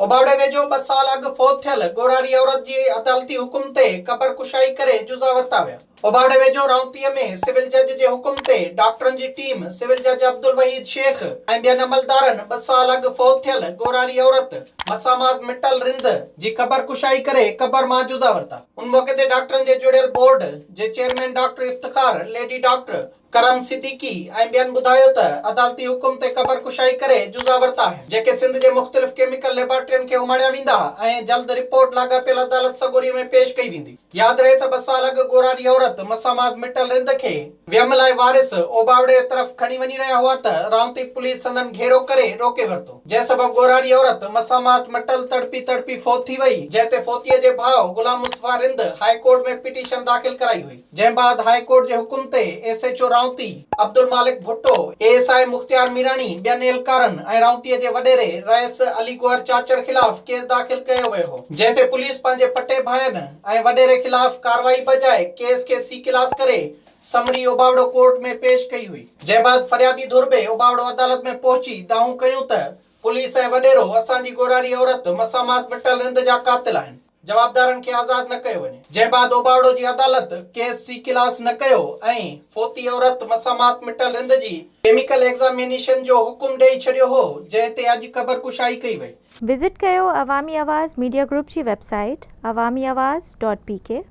اوباوڙي ويجهو ٻه سال اڳ فوت ٿيل ڳورهاري عورت جي عدالتي حڪم تي قبر ڪشائي ڪري جزا ورتا ويا. اوباوڙي ويجهو رائونتيء ۾ سول جج جي حڪم تي ڊاڪٽرن جي ٽيم سول جج عبدالوحيد شيخ ۽ ٻين عملدارن ٻه سال اڳ فوت ٿيل ڳورهاري عورت مسامات مٽل رند جي قبر ڪشائي ڪري قبر مان جزا ورتا. ان موقعي تي ڊاڪٽرن جي جڙيل بورڊ جي chairman doctor Iftikhar, lady doctor Karam Siddiqui ۽ ٻين ٻڌايو ته عدالتي حڪم تي قبر ڪشائي ڪري جزا ورتا آهن جيڪي سنڌ جي مختلف ڪيميڪل ليبارٽرين کي اماڻيا ويندا ۽ جلد رپورٽ لاڳاپيل عدالت سڳوري ۾ پيش ڪئي ويندي ياد رهي ته ٻه سال اڳ ڳورهاري عورت مسامات مٽل رند کي ويم لاء وارث اوٻاوڙي طرف کڻي وڃي رهيا هئا ته رائونتي پوليس سندن گهيرو ڪري روڪي ورتو جنهن سبب ڳورهاري عورت مسامات مٽل تڙپي تڙپي فوت ٿي وئي جنهن تي فوتيء جي ڀاء Ghulam Mustafa Rind high court ۾ petition داخل ڪرائي هئي. جنهن بعد هاء ڪورٽ جي حڪم تي S H O Raunti, Abdul Malik Bhutto, A S I Mukhtiar Mirani, ٻين اهلڪارن ۽ رائونتي جي وڏيري رئيس علي گوهر چاچڙ خلاف ڪيس داخل ڪيو ويو هو، جنهن تي پوليس پنهنجي پٽي ڀائن ۽ وڏيري خلاف ڪارروائي بجاء ڪيس کي سي ڪلاس ڪري سمري اوٻاوڙو ڪورٽ ۾ پيش ڪئي هئي. جنهن بعد فريادي ڌر به اوٻاوڙو عدالت ۾ پهچي دانهون ڪيون ته پوليس ۽ وڏيرو اسان جي ڳورهاري عورت مسامات مٽل رند جا قاتل آهن. جوابدارن کي آزاد نه ڪيو وڃي. جنهن بعد اوٻاوڙو جي عدالت ڪيس سي ڪلاس نه ڪيو ۽ فوتي عورت مسامات مٽل رند جي ڪيميڪل ايگزامينيشن جو حڪم ڏئي ڇڏيو هو جنهن تي اڄ خبر ڪشائي ڪئي وئي. وزٽ ڪيو عوامي آواز ميڊيا گروپ جي web site Awami Awaz dot P ڪي.